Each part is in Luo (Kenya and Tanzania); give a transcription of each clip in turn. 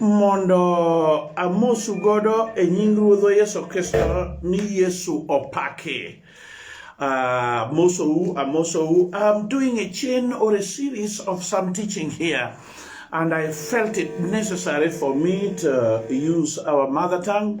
Mondo amosu godo e nying Ruodhwa Yesu Kristo ni Yesu opaki. Uh, Mosou, Amosou, I'm doing a chain or a series of some teaching here, and I felt it necessary for me to use our mother tongue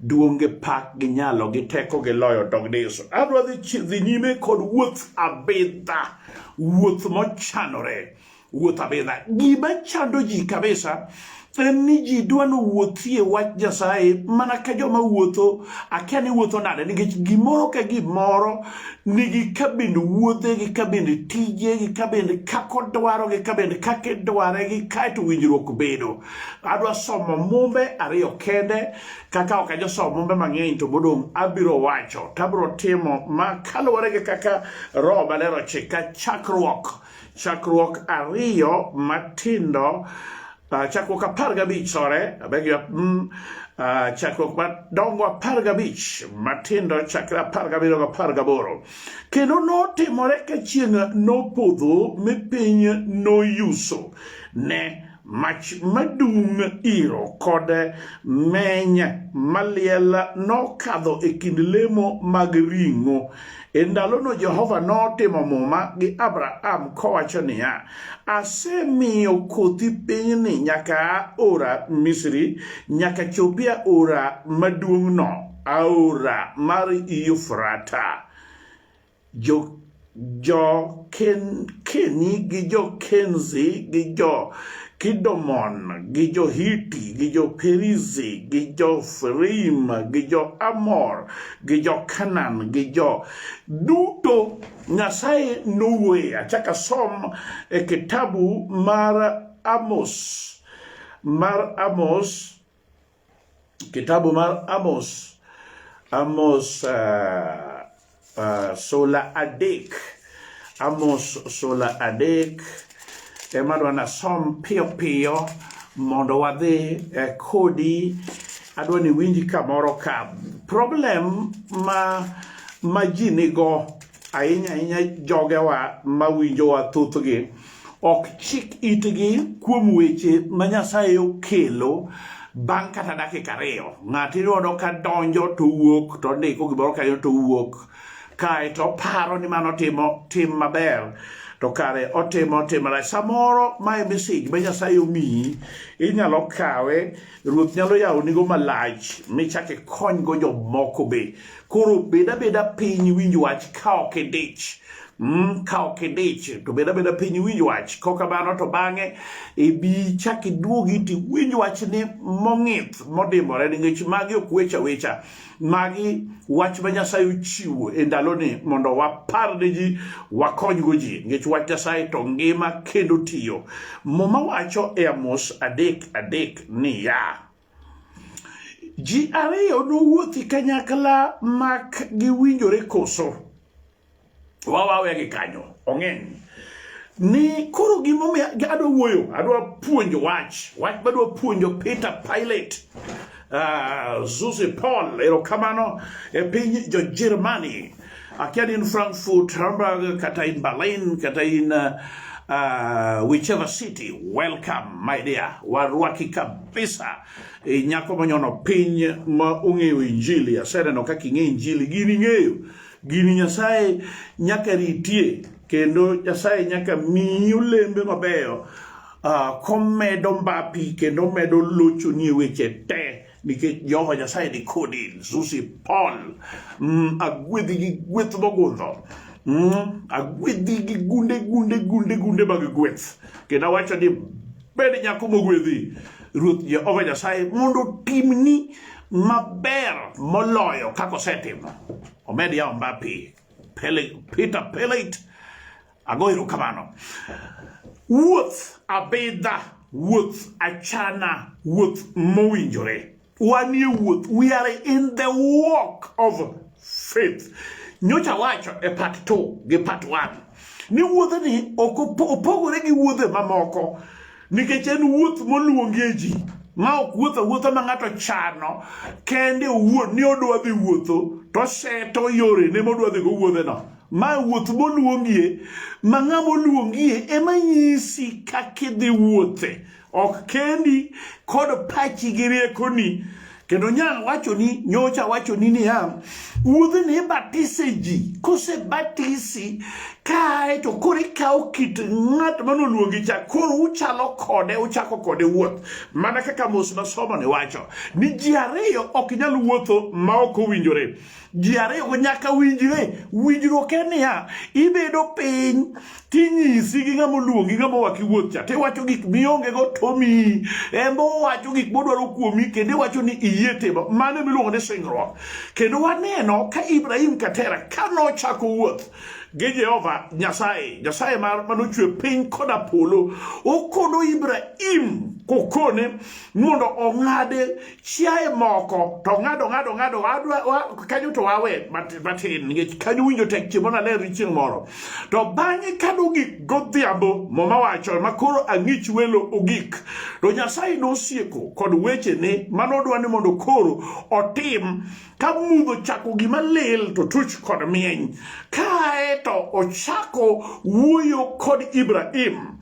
duong' gi pak gi nyalo gi teko gi loyo dog ni Yesu. Adwa dhi nyime kod wuoth abidha, wuoth mochanore, wuoth abidha. Gima chando ji kabisa en ni ji dwa ni wuothie wach Nyasaye mana ka joma wuotho akia ni wuotho nade nikech gimoro ka gimoro nigi kabind wuodhe gi kabind tije gi kabind kako dwaro gi kabind kake dware gi kaeto winjruok bedo adwa somo mumbe ariyo kende kaka ok ajosomo mumbe mang'eny to modong' abiro wacho to abiro timo ma kaluwore gi kaka roho maler ochika chakruok chakruok ariyo matindo uh, chakruok apar gabich sore abeg you mm, uh, chakruok madongo apar gabich matindo chakre apar gabiriyo gapar gaboro kendo notimore ka chieng' nopodho mi piny noyuso ne Mach madung' iro kod meny maliel nokadho e kind lemo mag ring'o. E ndalono Jehova notimo muma gi Abraham kowacho niya, Asemiyo kothi pinyni nyaka ora Misri, nyaka chopia ora maduong'no, aora mar Yufrata. jo-Keni gi jo-Kenzi gi jo-Kidomon gi jo-Hiti gi jo-Perizi gi jo-Ferim gi jo-Amor gi jo-Kanan gi jo duto Nyasaye nowuoye. Achaka som e kitabu mar Amos mar Amos Kitabu mar Amos, Amos uh, uh, sula adek, Amos sula adek ema dwa nasom piyo piyo mondo wadhi eh, kodi adwa ni winji kamoro ka problem ma ma ji nigo ahinya ahinya jogewa ma winjowa thothgi ok chik itgi kuom weche ma Nyasaye okelo bang' kata dakika ariyo ng'ato iyudo ka donjo to wuok to ndiko gimoro kanyo to wuok kae to paro ni mano timo tim maber to kare otimo tim marach samoro mae mesej ma Nyasaye omiyi inyalo kawe Ruoth nyalo yawonigo malach michak ikonygo jomoko be. Koro bed abeda piny winj wach ka ok idich. Mm, ka ok idich to bed abeda piny winj wach kok kamano to bang'e ibi chak iduogi to iwinj wachni mong'ith modimbore nikech magi ok wecha wecha Magi wach ma Nyasaye ochiwo e ndaloni mondo wapar ne ji, wakonygo ji, nikech wach Nyasaye to ngima kendo tiyo. Muma wacho e Amos adek adek niya, ji ariyo nowuothi kanyakla mak giwinjore koso? wawawe gi kanyo ong'eny ni koro gimomiyo adwa wuoyo adwa puonjo wach wach madwa puonjo Peter Pilate uh, ah, Susi Paul erokamano e piny jo Germany akia ni in Frankfurt Hamburg kata in Berlin kata in uh, uh, whichever city welcome my dear warwaki kabisa e nyako manyono piny ma ong'eyo injili aseneno kaka ing'e injili gini ing'eyo Gini Nyasaye nyaka ritie kendo Nyasaye nyaka miyi olembe mabeyo uh, komedo mbapi kendo medo lochoni e weche te nikech Jehova Nyasaye ni kodi Susi Paul mm, agwedhi gi gweth mogundho mm, agwedhi gi gunde gunde gunde gunde mag gweth kendo awacho ni Bed nyako mogwedhi. Ruoth Jehova Nyasaye mondo otimni maber moloyo kaka osetimo. Omed yawo mbapi. Peter Pellet, ago erokamano. Wuoth abidha, wuoth achana, wuoth mowinjore. wanie wuoth we are in the walk of faith nyocha wacho e part 2 gi part 1 ni wuodhni ok opogore gi wuodhe mamoko nikech en wuoth moluongie ji ma ok wuotho wuotho ma ng'ato chano kende owuon ni odwa dhi wuotho to seto yore ne modwa dhi go wuodheno ma wuoth moluongie ma ng'ama oluongie ema nyisi kaka idhi wuothe ok kendi kod pachi gi riekoni kendo nyal wachoni nyocha wachoni niya wuodhi ni ibatise ji kosebatisi kae to koro ikawo kit ng'at manoluongi cha koro uchalo kode uchako kode wuoth mana kaka mos nasomo ni wacho ni ji ariyo ok nyal wuotho ma ok owinjore ji ariyogo nyaka winjre winjruok en niya ibedo piny tinyisi gi ng'ama oluongi ng'ama owaki wuoth cha tiwacho gik miongego tomiyi embe owacho gik modwaro kuomi kendo iwacho ni iyie timo mano miluongo ni singruok kendo waneno ka ibrahim katera ka nochako wuoth gi jehova nyasaye nyasaye manochwe piny koda polo okono ibrahim kokone mondo ong'ade chiaye moko to ng'ado ng'ado ng'ado kanyo to wawe matin nikech kanyo winjo tek chiemo naler chieng' moro to bang'e ka nogik godhiambo moma wacho ma koro ang'ich welo ogik to nyasaye nosieko kod wechene ma nodwa ni mondo koro otim ka mudho chako gima lil to tuch kod mieny kae to ochako wuoyo kod ibrahim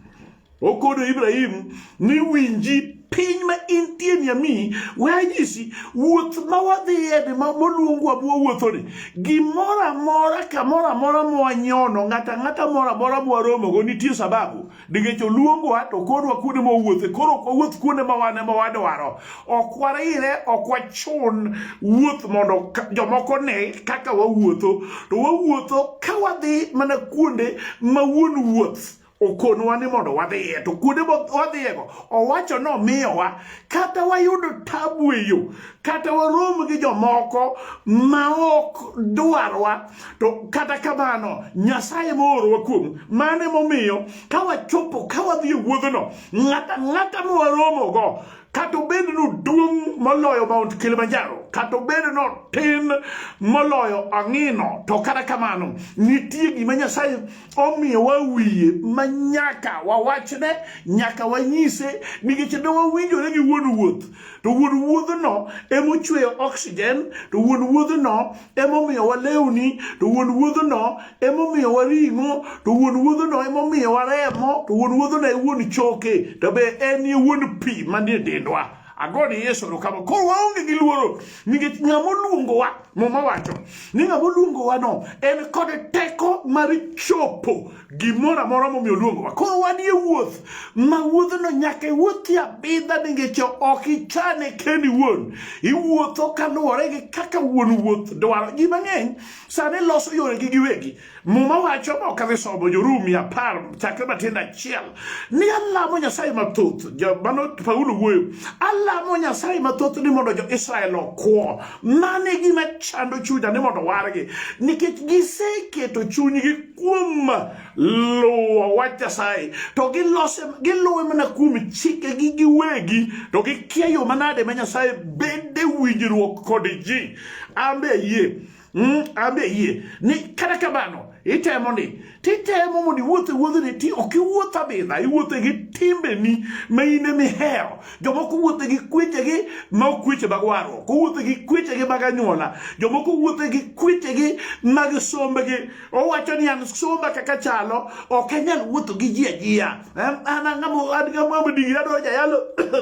Okodo Ibrahim ni winji piny ma intie ni ami wanyisi wuoth ma wadhiye ni ma moluongwa bwa wuothoni gimoro amora kamoro amora mwanyono ng'ata ng'ata moro amora mwaromogo nitie sababu nikech oluongwa to kodwa kuonde mowuothe koro ok wawuoth kuonde ma wan ema wadwaro ok warire ok wachun wuoth mondo jomoko ne kaka wawuotho to wawuotho ka wadhi mana kuonde ma wuon wuoth okonwa ni mondo wadhiye to kuonde wadhiyego owacho ni omiyowa kata wayudo tabu e yo kata warom gi jomoko ma ok dwarwa to kata kamano nyasaye moorowa kuomu mano emomiyo ka wachopo ka wadhi e wuodhno ng'ata ng'ata ma waromogo kata obed ni oduong' moloyo mount kilimanjaro kata obed ni otin moloyo ang'ino to kata kamano nitie gima nyasaye omiyowa wiye ma nyaka wawachne nyaka wanyise nikech ne wawinjore gi wuon wuoth to wuon wuodhno emochweyo oxygen to wuon wuodhno emomiyowa lewni to wuon wuodhno emomiyowa ring'o to wuon wuodhno emomiyowa remo to wuon wuodhno e wuon choke to be en e wuon pi manie dendwa agone Yesu erokamano. Koro waonge gi luoro nikech ng'ama oluongowa, Muma wacho ni ng'ama oluongowa no en kod teko mar chopo gimoro amora momiyo oluongowa. Koro wanie wuoth ma wuodhno nyaka iwuothi abidha nikech ok ichane kendi wuon. Iwuotho kaluwore gi kaka wuon wuoth dwaro. Ji mang'eny sani loso yoregi giwegi. Muma wacho mok adhi somo Jorumi apar chakre matindo achiel ni alamo Nyasaye mathoth. Mano Paulo wuoyo, alamo Nyasaye mathoth ni mondo jo-Israel okwo. Mano e gima chando chunya ni mondo wargi, nikech giseketo chunygi kuom luwo wach Nyasaye to gilose giluwe mana kuom chikegi giwegi to gikia yo manade ma Nyasaye bede winjruok kod ji. Ambe yie Mm, ambe yie ni kata kamano itemo ni titemo mondo iwuothe wuodhni ti ok iwuoth abidha iwuothe gi timbeni ma in ema ihero jomoko wuothe gi kwechegi ma ok kweche mag warruok owuothe gi kwechegi mag anyuola jomoko wuothe gi kwechegi mag sombegi owacho ni an somba kaka chalo ok anyal wuotho gi ji ajiya an ang'amo an ng'amo digri adwaro jayalo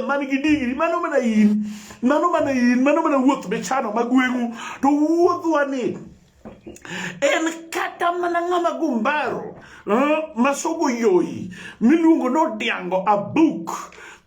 man gi digri mano mana in mano mana in mano mana wuoth michano ma gweng'u to wuodhwa ni en kata mana ng'ama gumbaro eh, masogo yoyi miluongo ni odiango abuk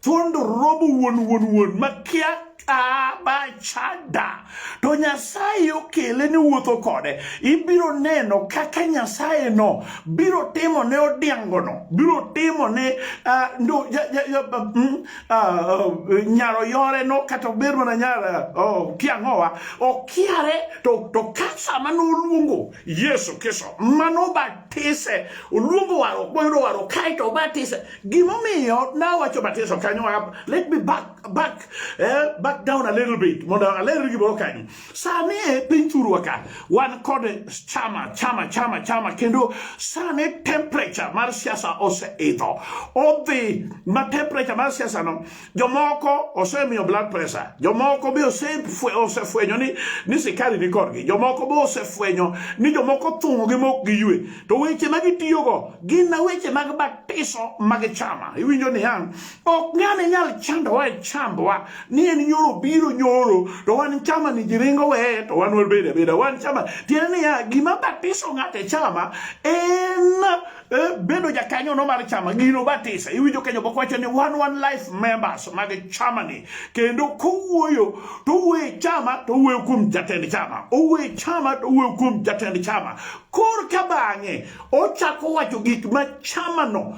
thuondo robo wuon wuon wuon makia abachada to nyasaye okele ni wuotho kode ibiro neno kaka nyasaye no biro timo ne odiango no biro timo ne uh, no, ja, ja, ja, mm, uh, nyaro yore no kata ober mana nyar uh, kiang'owa okiare to, to ka sama noluongo yesu kristo manobatise oluongo warruok moyudo warruok kaeto obatise gimomiyo nawacho batiso kanyo let me back back eh, back down a little bit mondo aler gimoro kanyo sane piny thurwa ka wan kod chama chama chama chama kendo sane temperature mar siasa oseidho odhi ma temperature mar siasa no jomoko osemiyo blood pressure jomoko be osefwenyo ni ni sikari ni kodgi jomoko be osefwenyo ni jomoko thung'o gi mok gi ywe to weche ma gitiyogo gin na weche mag batiso mag chama iwinjo ni yang ok ng'ane nyal chandowa e chandwa ni en nyoro biro nyoro to wan chama ni jiringo weye to wan wabeda beda wan chama tiende niya gima batiso ng'ate chama en eh, bedo jakanyo no mar chama gino batisa iwinjo kenyo bok wacho ni one one life members mag chama ni kendo kowuoyo to owuoyo chama to owuoyo kuom jatend chama owuoyo chama to owuoyo kuom jatend chama kor ka bang'e ochako wacho gik ma chama no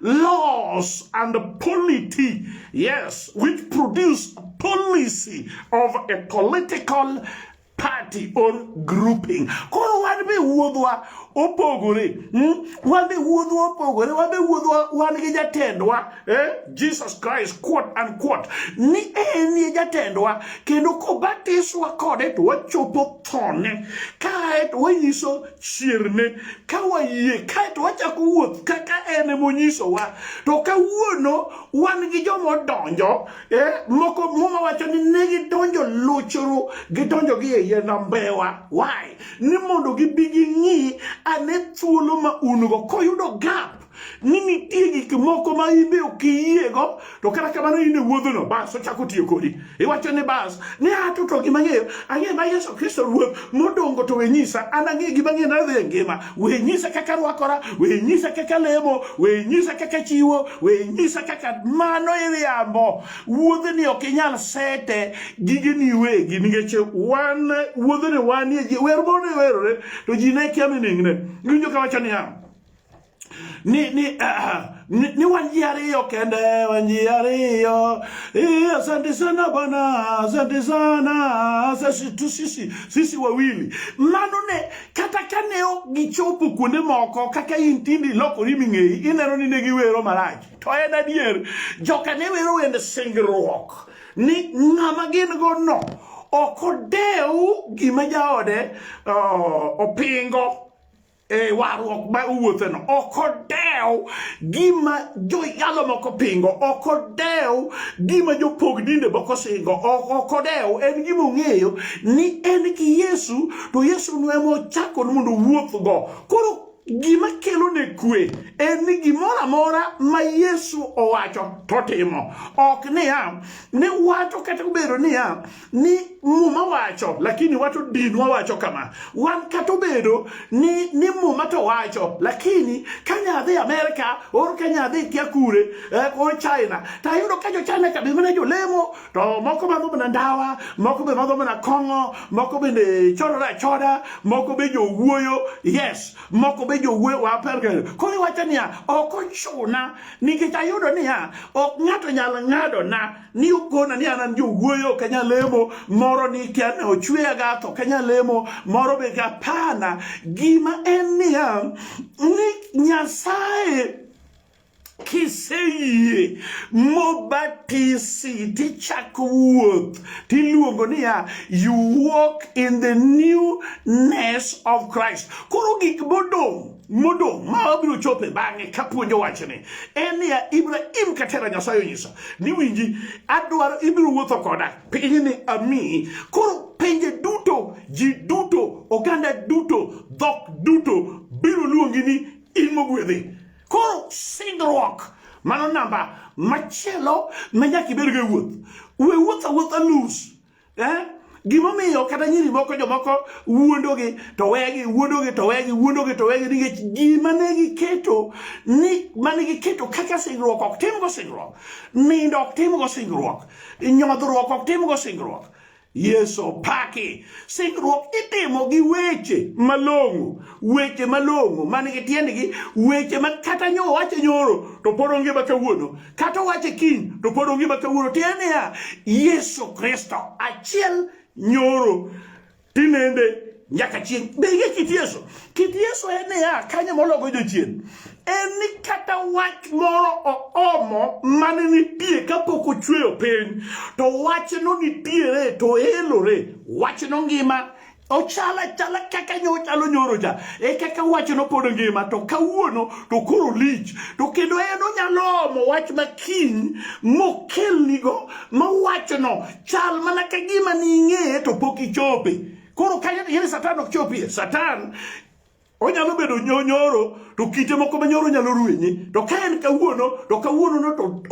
laws and polity, yes, which produce policy of a political party or grouping. Koro wan be wuodhwa opogore. Hmm? Wan be wuodhwa opogore. Wan be wuodhwa wan gi jatendwa. Eh? Jesus Christ quote and quote. Ni en ye jatendwa kendo kobatiswa kode to wachopo thone. Kae to wanyiso chierne ka wayie kaeto wachako wuoth kaka en emonyisowa to kawuono wan gi joma odonjo e moko muma wacho ni ne gidonjo luchuru gidonjo gi eiye nambewa why ni mondo gibi ging'i ane thuolo ma un go koyudo gap ni nitie gik moko ma in be ok iyiego to kata kamano in e wuodhono bas ochako tiyo kodi iwacho ni bas ni ato to gima ng'eyo ang'e ma yesu kristo ruoth modongo to we nyisa an ang'e gima ng'e nadhi e ngima we nyisa kaka rwakora we nyisa kaka lemo we nyisa kaka chiwo we nyisa kaka mano iriambo wuodhni ok inyal sete gigeni wegi nikech wan wuodhni wanie ji wer mondo iwerore to ji ne kia mining'ne winjo ka wacho niya ni ni, uh, ni, ni wanji ariyo kende wanji ariyo eh, asante sana bwana asante sana sisi tu sisi sisi wawili mano ne kata kane ok gichopo kuonde moko kaka in tindi lokori ming'eyi ineno ni ne giwero marach to en adier joka ne wero wende singruok ni ng'ama gin go no ok odew gima jaode uh, opingo e warruok ma owuotheno ok odew gima joyalo moko pingo ok odew gima jopog dinde moko singo ok odew en gima ong'eyo ni en gi yesu to yesu no ema ochako mondo owuothgo koro gima kelo ne kwe en ni gimoro amora ma yesu owacho totimo ok niya ne wacho kata obedo niya ni muma wacho lakini wato dinwa wacho kama wan kata obedo ni, ni muma to wacho lakini ka nyadhi amerika or ka nyadhi kia kure eh, or china to ayudo ka jochina ka bimana jolemo to moko madho mana ndawa moko be madho mana kong'o moko bende chodore achoda moko be jowuoyo yes moko be jowuoyo wa perka koro iwacho niya ok ochuna nikech ayudo niya ok ng'ato nyal ng'ado na ni ukona ni anan jowuoyo ok anyal lemo moro ni kia ne ochweya ga to ok anyal lemo moro be gapana gima en niya ni nyasaye kiseyie mobatisi tichako wuoth tiluongo niya you walk in the newness of christ koro gik modong' modong' ma wabiro chope bang'e kapuonjo wachni en niya ibrahim katera nyasaye onyisa ni winji adwaro ibiro wuotho koda pinyni amiyi koro pinje duto ji duto oganda duto dhok duto biro luongi ni in mogwedhi koro singruok mano namba machielo ma nyaka ibedgo e wuoth we wuoth awuotha nus eh? gimomiyo kata nyiri moko jomoko wuondogi to wegi wuondogi to wegi wuondogi to wegi nikech gima ne giketo ni mane giketo kaka singruok ok timgo singruok nindo ok timgo singruok nyodhruok ok timgo singruok Yesu paki singruok itimo gi weche malong'o weche malong'o man gi tiendgi weche ma kata nyo wacho nyoro to pod onge ma kawuono kata owache kiny to pod ongima kawuono tiende niya yesu kristo achiel nyoro tinende nyaka chieng' be ing'e kit yesu kit yesu en niya kanyo mologo jochien en ni kata wach moro oomo mane nitie kapok ochweyo piny to wachno nitiere to elore wachno ngima ochala chala kaka nyochalo nyoro cha e kaka wach no pod ngima to kawuono to koro lich to kendo en onyalo omo wach makiny mokelnigo ma wachno chal mana ka gima ning'eye to pok ichope koro kanyo yene satan ok chopie satan onyalo bedo nyonyoro to kite moko ma nyoro nyalo ruenye to ka en kawuono to kawuono no to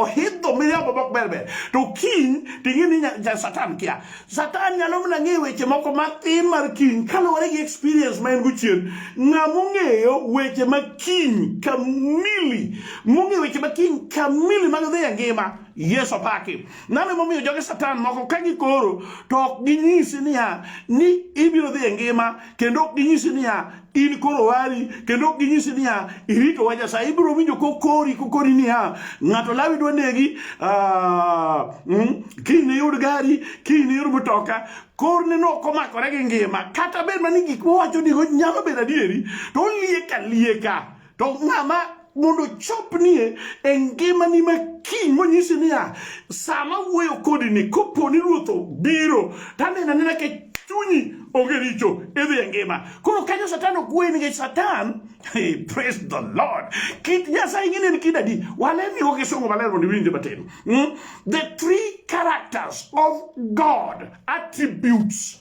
ohidho miriambo mok ber ber to kiny ting'e ni satan kia satan nyalo mana ng'eyo weche moko matin mar kiny kaluwore gi experience ma en go chien ng'a mong'eyo weche ma kiny kamili mong'eyo weche ma kiny kamili mag dhi e ngima Yesu apaki. Nano emomiyo joge Satan moko ka gikoro to ok ginyisi niya ni ibiro dhi e ngima kendo ok ginyisi niya in koro wari kendo ok ginyisi niya irito wa nyasaye ibiro winjo kokori kokori niya ng'ato lawi dwa negi ah, mm, kiny ne yud gari kiny ne yud mtoka korne no ok omakore gi ngima kata bed mani gik mowacho nigo nyalo bedo adieri to olieka lieka To ng'ama mondo chopnie e ngimani ma kiny monyisi niya, sama wuoyo kodi ni koponi ruoth obiro, tanena nena ke chunyi onge richo idhi e ngima koro kanyo satan ok wuoyi nikech satan hey, praise the lord kit nyasaye ing'e en kid adi walemigo kisungu maler mondo iwinje matin mm? the three characters of god attributes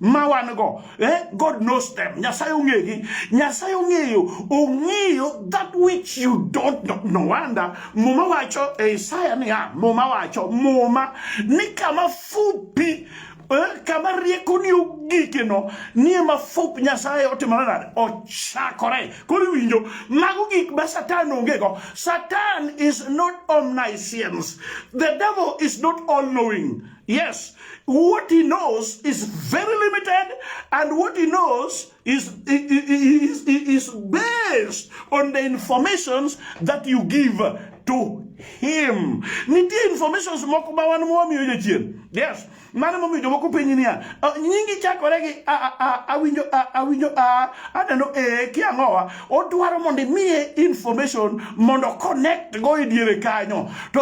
ma wan go eh? god knows them nyasaye ong'egi nyasaye ong'eyo ong'eyo that which you don't know no wonder muma wacho e isaya niya muma wacho muma ni kama fupi eh, kama rieko ni ogikeno ni ema fup nyasaye otimore nade ochakore koro iwinjo mago gik ma satan ongego satan is not omniscience the devil is not all knowing Yes, what he knows is very limited, and what he knows is, is, is based on the informations that you give to him. Nitie informations moko ma wan mwamiyo jachien. Yes, mano momiyo jomoko penyi niya, ah, nyingi chakore gi awinjo awinjo aneno e kiang'owa odwaro mondo imiye information mondo connect go e diere kanyo to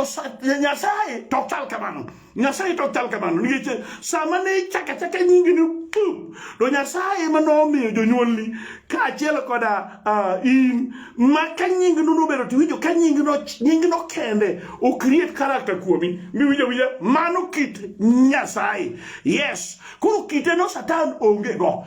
nyasaye to chal kamano nyasaye to chal kamano nikech sama ne ichaka chaka nyingi ni pum to nyasaye ema nomiyo jonyuolni kaachiel koda uh, in ma ka nyingi no nobedo to iwinjo ka nyingi no nyingi no kende o create character kuomi miwinjo winja mano kit nyasaye yes koro kite no satan onge go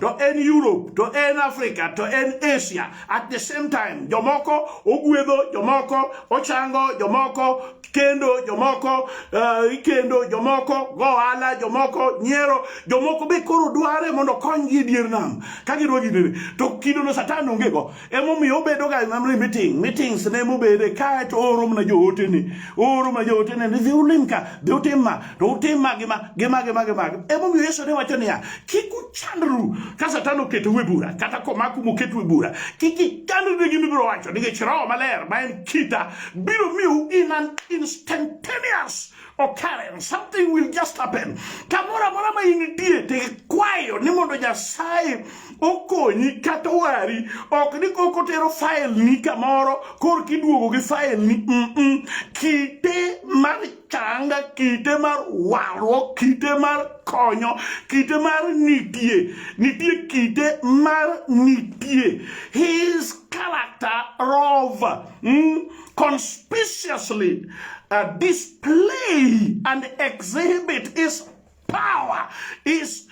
to en Europe to en Africa to en Asia at the same time jomoko ogwedho jomoko ochango jomoko kendo jomoko uh, ikendo jomoko go ohala jomoko nyiero jomoko be koro dware mondo konygi e dier nam ka gidwa gidene to kidono satan onge go emomiyo obedo ga namre meeting meetings ne mobede kae to ooro mana joote ni ooro mana joote ni dhi ulim ka dhi utim ma to utim ma gi ma gi ma gi ma gi ma emomiyo Yesu ne wacho niya kik uchandru ka satan oketou e bura kata komaku moketu e bura kik ichandru gi mibiro wacho nikech roho maler ma en kita biro miyo in an instantaneous Okaren, something will just happen. Kamoro amora ma in nitie to ikwayo ni mondo Nyasaye okonyi kata wari, ok ni koko tero file ni kamoro kor kiduogo gi file ni mm -mm. kite mar changa, kite mar warruok, kite mar konyo, kite mar nitie, nitie kite mar nitie. His character rover mm, conspicuously uh, display and exhibit his power is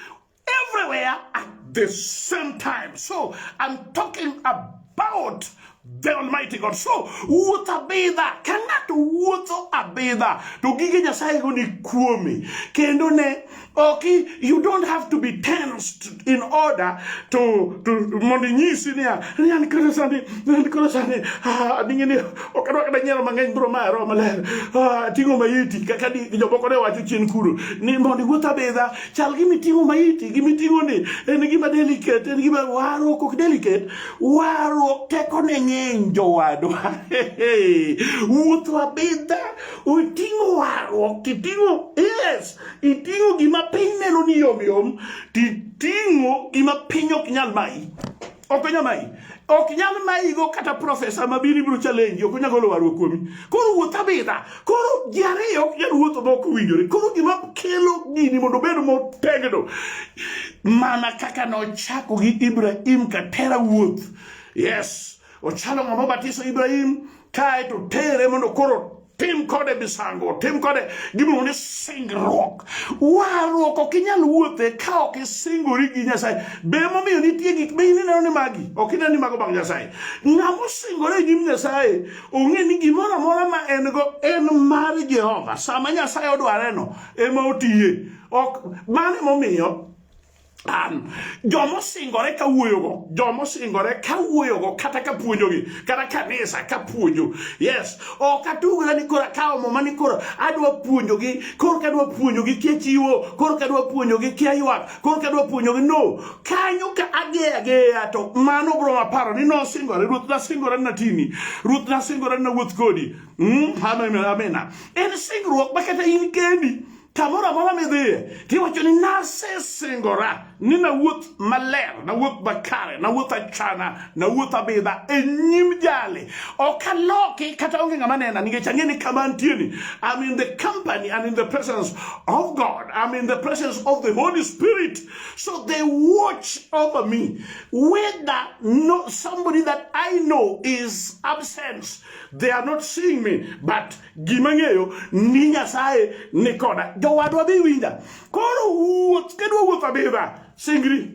everywhere at the same time. So I'm talking about the Almighty God. So wuoth abidha ka ng'ato wuotho abidha to gige Nyasaye go ni kuome kendo ne Okay, you don't have to be tensed in order to to mondo inyisi niya ni an koro sani an koro sani ah, dingi ni ok adwa kada nyalo mang'eny bro ma ero maler ah, ting'o maiti kaka di jomoko ne wacho chien kuro ni mondo iwuoth abedha chal gi miting'o maiti gi miting'o ni en gima delicate en gima warruok ok delicate warruok teko ne ng'eny jowadwa wuotho abedha oting'o warruok titing'o yes Iting'o gima piny neno ni yom yom, titing'o gima piny ok nyal mayi. Ok onyal mayi. Ok nyal mayi go kata profesa ma biri biro challenge, ok onyal golo warruok kuomi. Koro wuoth abidha. Koro ji ariyo ok nyal wuotho ma ok owinjore. Koro gima kelo gini mondo obed motegno mana kaka nochako gi Ibrahim katera wuoth. Yes. Ochalo ng'ama obatiso Ibrahim kae to tere mondo koro tim kode misango tim kode gimiluongo ni singruok warruok ok inyal wuothe ka ok isingori gi nyasaye be momiyo nitie gik ma in ineno ni magi ok ineno ni mago mag nyasaye ng'ama osingore e nyim nyasaye ong'e ni gimoro amora ma en go en mar jehova sama nyasaye odwareno ema otiye ok mano emomiyo Um, joma osingore ka wuoyogo joma osingore ka wuoyogo kata ka puonjogi kata kanisa ka puonjo yes ok atugre ni koro akawo muma ni koro adwa puonjogi koro kadwa puonjogi kia chiwo koro kadwa puonjogi kia ywak koro kadwa puonjogi no kanyo ka ageya geya to mano bro maparo ni nosingore ruoth nasingore natini ruoth nasingore nawuoth kodi mm, amena en singruok ma kata in kendi Kamoro amora midhiye tiwacho ni nasesingora ni nawuoth maler, nawuoth makare, nawuoth achana, nawuoth abidha e nyim jali. Ok aloki kata onge ng'ama nena nikech ang'e ni kama antieni. I'm in the company and in the presence of God. I'm in the presence of the Holy Spirit. So they watch over me. Whether no, somebody that I know is absent, they are not seeing me, but Gima ng'eyo ni Nyasaye ni koda. Jowadwa dhi winja. Koro wuoth kedwa wuoth abidha. Singri.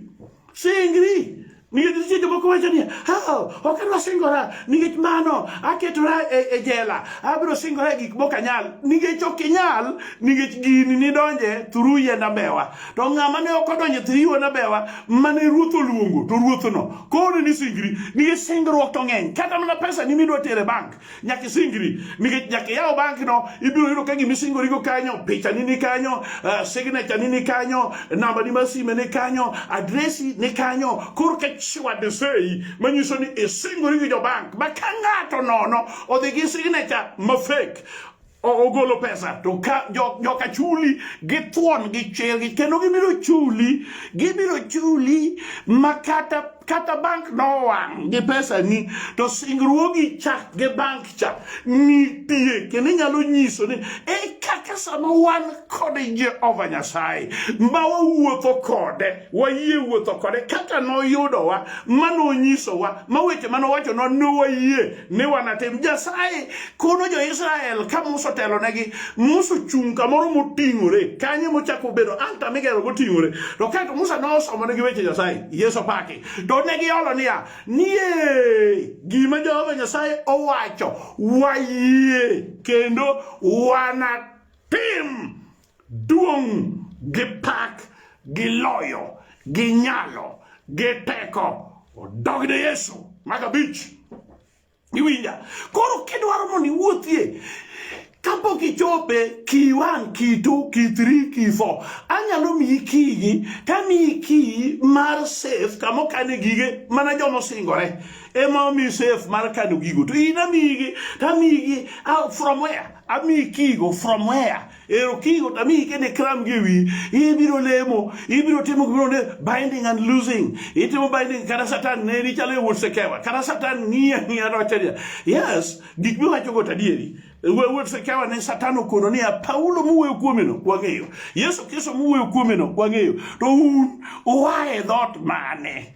Singri. Nikech nitie jomoko wacho niya, oh, ok adwa singora nikech mano aketora e, e jela, abiro singora e gik mok anyal. Nikech ok inyal, nikech gini nidonje thuru yiend ambewa. To ng'ama ne ok odonje thuru yiend ambewa, mane ruoth oluongo, to ruothno koro ni singri, nikech singruok to ng'eny. Kata mana pesa ni midwa tere bank, nyaka isingri nikech nyaka iyaw banki no ibiro yudo ka gima isingorigo kanyo pichani ni kanyo uh, signature ni ni kanyo namba ni mar sime ni kanyo adresi ni kanyo koro ka chiwadesei manyiso ni isingori gi jobank ma ka ng'ato nono odhi gi signature ma fake ogolo pesa to ka joka chuli githuon gi chergi kendo gibiro chuli gibiro chuli ma kata kata bank nowang' gi pesa ni to singruogi cha gi bank cha nitie kendo inyalo nyiso ni e kaka sama wan kod Jehova Nyasaye ma wawuotho kode wayie wuotho kode kaka noyudowa ma nonyisowa ma weche ma nowachonwa ne wayie ni wanatim nyasaye kono jo-israel ka musa otelonegi musa ochung' kamoro moting'ore kanyo mochako bedo alta migero moting'ore to kaeto musa nosomonegi weche nyasaye yesu paki to ne giolo niya nie gima jehova nyasaye owacho wayie kendo wanatim Duong' gi pak gi loyo gi nyalo gi teko odog ne Yesu mag abich. Iwinja? Koro kidwaro mondo iwuothie kapok ichope key one key two key three key four anyalo miyi kiygi tamiyi kiyi mar safe kama okane gige mana joma osingore ema omi safe mar kano gigo to in amiyigi tamiyigi ah, from where amiyi kiyigo from where Ero kigo tami kende kram giwi ibiro lemo ibiro timo gibiro ne binding and losing itimo binding kata satan ne ni chalo wuot sekewa kata satan ngiya ngiya rocheria yes gik miwacho go tadieri wuot sekewa ne satan okono ni Paulo muwe kuome no wang'eyo Yesu Kristo muwe kuome no wang'eyo to un uae dhot mane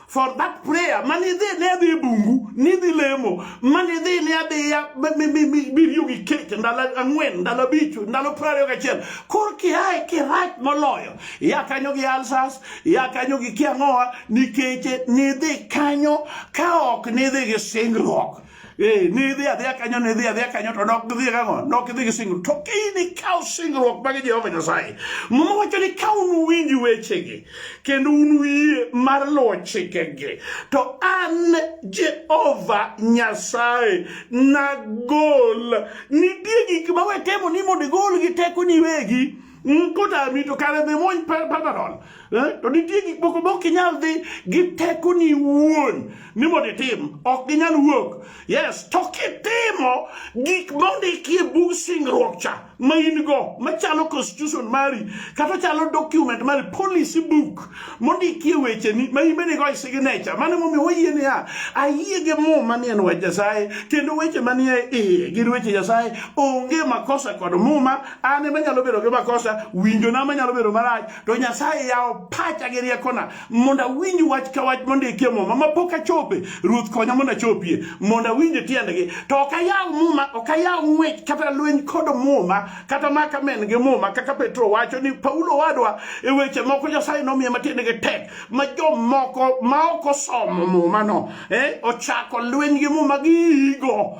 for that prayer manidhi ne adhi e bungu nidhi lemo manidhi ne adhiya biriyo gi kech ndalo ang'wen ndalo abich ndalo piero ariyo gachiel kor kiae kirach moloyo ya kanyo gi alsas ya kanyo gi kiang'owa nikech nidhi kanyo ka ok nidhi gi singruok Ee, ni idhi adhiya kanyo ni idhi adhiya kanyo to dok gidhi kang'o dok gidhi gi singruok to kini kaw singruok mag Jehova Nyasaye muma wacho ni ka un winj wechegi kendo un wiye mar luwo chikegi to an Jehova Nyasaye nagol nitie gik ma wetemo ni mondo igol gi teko ni wegi nkota mi to kare dhi muony Panadol eh? to nitie gik moko ma ok inyal dhi gi tekoni wuon ni mondo itim ok ginyal wuok yes to kitimo gik mondikie bug singruok cha ma in go machalo constitution mari kata chalo document mari policy book mondikie wecheni ma in bende go e signature mano momiyo wayie niya ayie gi muma ni en wach Nyasaye kendo weche manie iye gin weche Nyasaye onge makosa kod muma an ema nyalo bedo gi makosa winjona manyalo bedo marach to nyasaye yawo pacha gi riekona mondo awinj wach ka wach mondikie muma mapok achope ruoth konya mondo achopie mondo awinje tiendgi to ok ayaw muma ok ayaw ng'wech kata lweny kod muma kata maka men gi muma kaka petro wacho ni paulo wadwa e weche moko nyasaye nomiye matiendgi tek ma jomoko ma ok osomo muma no eh, ochako lweny gi muma gi igo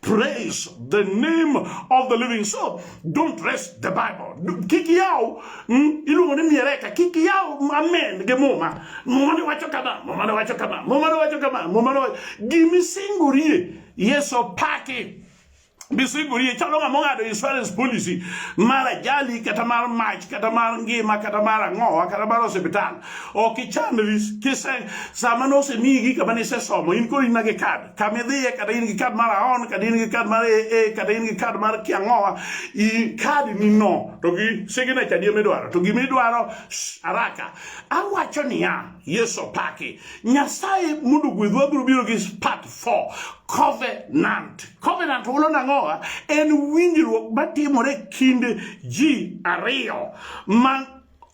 praise the name of the living soul don't rest the bible kik yaw mm, iluongo ni miereka kik yaw amen gi muma muma ne wacho kama muma ne wacho kama muma ne wacho kama muma ne wacho gimisingorie yeso paki bisingorie chalo ng'ama ong'ado insurance policy mar ajali kata mar mach kata mar ngima kata mar ang'owa kata mar osiptal ok ichandri kise sama nosemiyi gi kama nisesomo in koro inage kad kamidhiye kata in gi kad mar aon kata in gi kad mar ee kata in gi kad mar kiang'owa i kadi ni no to gi signature di midwaro to gima idwaro araka awacho niya yesu paki nyasaye mondo gwedhwa biro biro gi part 4 covenant covenant hulo nang'owa en winjruok matimore kind ji ariyo ma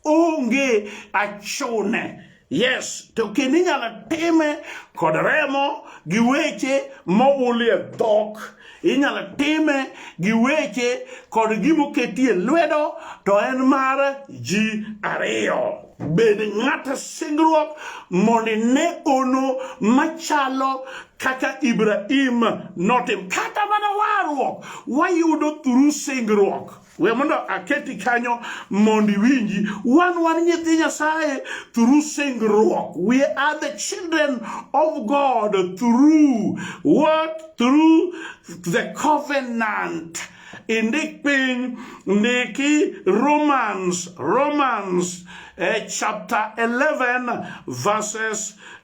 onge achune yes to kendo inyalo time kod remo gi weche moulie dhok inyalo time gi weche kod gimoketie lwedo to en mar ji ariyo bed ng'ata singruok mondo ine ono machalo kaka Ibrahim notim kata mana warruok wayudo thuru singruok we mondo aketi kanyo mondo iwinji wan wan nyithi nyasaye through singruok we are the children of god through what through the covenant indik piny ndiki romans romans eh, chapter 11 verses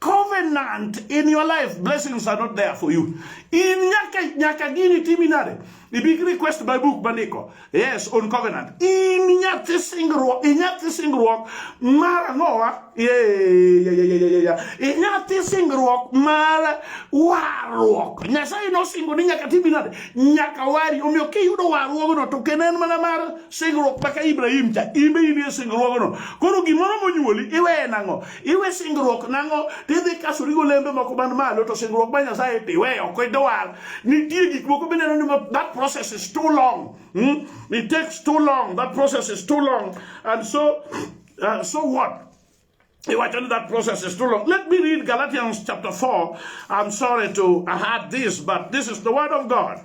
covenant in your life blessings are not there for you in nyaka nyaka gini timi nade ibi request by book maniko yes on covenant in nyathi singruok in nyathi singruok mar ang'owa in nyathi singruok mar warruok nyasaye nosingo ni nyaka timi nade nyaka wari omiyo kiyudo warruogno to kendo en mana mar singruok maka ibrahim cha imbe inie singruogno koro gimoro monyuoli iweye nang'o iwe singruok nang'o tidhi kasori golembe moko man malo to singruok ma nyasaye tiwe ok idwar nitie gik moko bineno ni that process is too long hmm? it takes too long that process is too long and so uh, so what Iwacho ni that process is too long. Let me read Galatians chapter 4. I'm sorry to add this, but this is the word of God.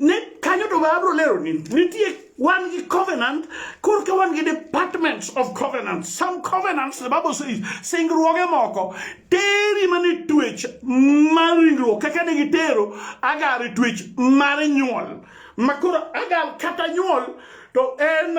ne kanyo to ma abro lero ni nitie wan gi covenant korka wan gi departments of covenant some covenants the bible says singruoge moko teri mane twech mar ringruok kaka ne gitero agar e twech mar nyuol makoro agar kata nyuol to en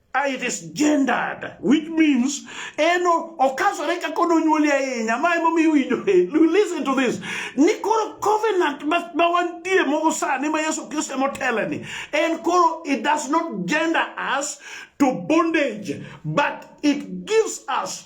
Ah, it is gendered which means eno okasore kaka nonyuoli ahinya ma emomiyo iwinjo listen to this ni koro covenant ma wantie mogo sani ma yesu kristo emoteleni en koro it does not gender us to bondage but it gives us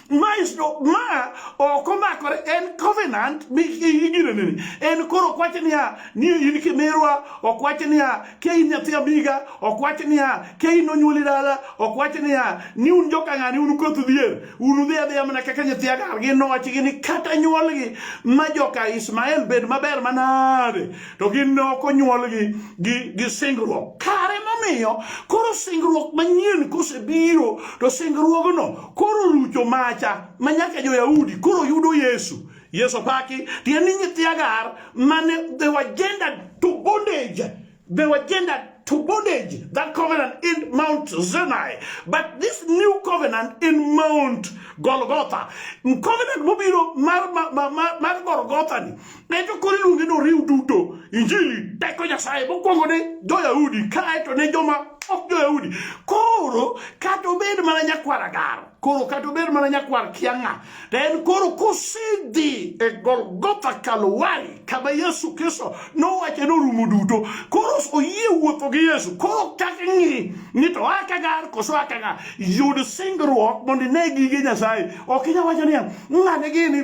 ma isto ma ok omakore en covenant migino nini en koro ok wach niya ni in kimirwa ok wach niya ke in nyathi amiga ok wach niya ke in onyuoli dala ok wach niya ni un joka ng'ani un koth dhier un udhi adhiya mana kaka nyathi agar gi nochgi ni kata nyuolgi ma joka Ismael bed maber manade to gin ne ok onyuolgi gi, gi singruok kare momiyo koro singruok manyien kosebiro to singruogno koro rucho macha ma nyaka jo-Yahudi koro yudo Yesu. Yesu opaki, tiende ni nyithi Hagar mane they were gendered to bondage. They were gendered to bondage, that covenant in Mount Sinai. But this new covenant in Mount Golgotha, covenant mobiro mar, mar, mar, mar Golgotha ni, Ne to koro iluonge ni oriw duto injili teko Nyasaye mokwongo ne jo-Yahudi kae to ne joma ok jo-Yahudi. Koro kata obed mana nyakwar agaro, koro kata obed mana nyakwar kiang'a, to en koro kosedhi e Golgotha Kalwari kama Yesu Kristo nowacho ni orumo duto, koro oyie wuotho gi Yesu, koro chak ng'i ni to oa kagar koso oa kagar. Yud singruok mondo ine gige Nyasaye. Ok inyal wacho niya, ng'ane gini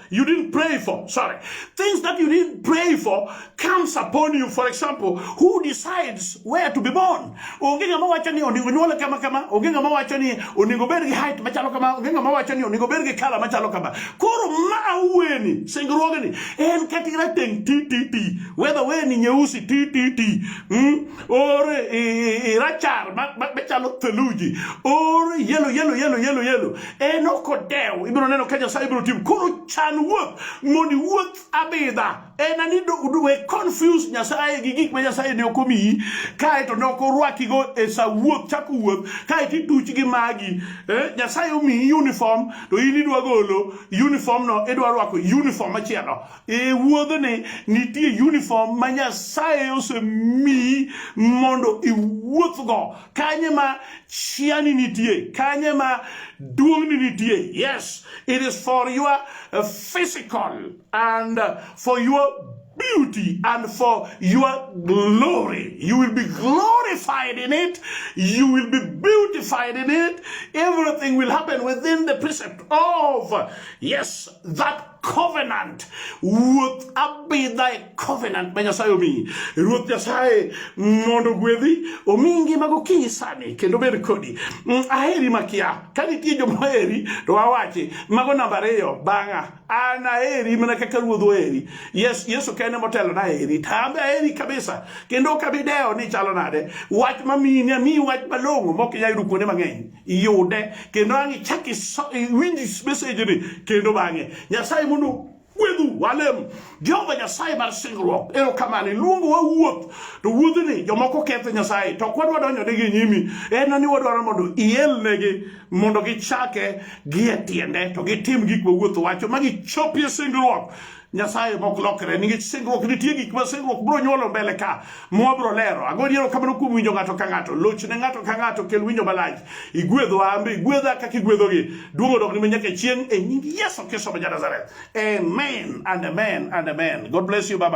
you didn't pray for. Sorry. Things that you didn't pray for comes upon you. For example, who decides where to be born? Onge ngama wacho ni onego nyuole kama kama, onge ngama wacho ni onego bed gi height machalo kama, onge ngama wacho ni onego bed gi color machalo kama. Koro ma weni singruogni en kati rateng ti ti ti. Whether weni nyeusi ti ti ti. Mm? Or e, e, e, rachar machalo theluji. Or yellow yellow yellow yellow yellow. en ok odew ibiro neno ka nyasaye ibiro tim koro chan wuoth mondo iwuoth abidha en ani we confuse nyasaye gi gik ma nyasaye ne ok omiyi kaeto ne ok orwakigo e sa wuoth chako wuoth kaeto ituch gi magi eh, nyasaye omiyi uniform to in idwa golo uniform no idwa rwako uniform machielo e wuodhni nitie uniform ma nyasaye osemiyi mondo iwuothgo kanye ma chiani nitie kanye ma duong'ni nitie yes it is for your uh, physical and uh, for your beauty and for your glory. You will be glorified in it. You will be beautified in it. Everything will happen within the precept of, yes, that covenant ruoth abidha e covenant ma nyasaye omiyi ruoth nyasaye mondo gwedhi omi ngima gokinyi sani kendo bed kodi mm, aheri makia ka nitie joma heri to wawachi mago namba ariyo bang'a an aheri mana kaka ruoth oheri yes yesu kende motelo na heri tambe aheri kabisa kendo ok abidewo ni chalo nade wach mamiyi ni amiyi wach malong'o mok inyal yudo kuonde mang'eny iyude kendo ang' ichak iwinj mesejni kendo bang'e nyasaye mondo gwedhu walem jehova nyasaye mar singruok erokamano iluongo wa wuoth to wuodhni jomoko ketho nyasaye to ok wadwa donjonegi e nyimi en ni wadwaro mondo ielnegi mondo gichake gie tiende to gitim gik ma wuoth wacho ma gichopie singruok Nyasaye mok lokre nikech singruok nitie gik ma singruok bro nyuolo mbele ka mwa bro lero ago diero kamano kuom winjo ng'ato ka ng'ato loch ne ng'ato ka ng'ato kel winjo malach igwedhwa ambe igwedha kaka igwedhogi duogo dok ni ma nyaka chieng' e nying Yesu Kristo ma Nazareth amen and amen and amen god bless you baba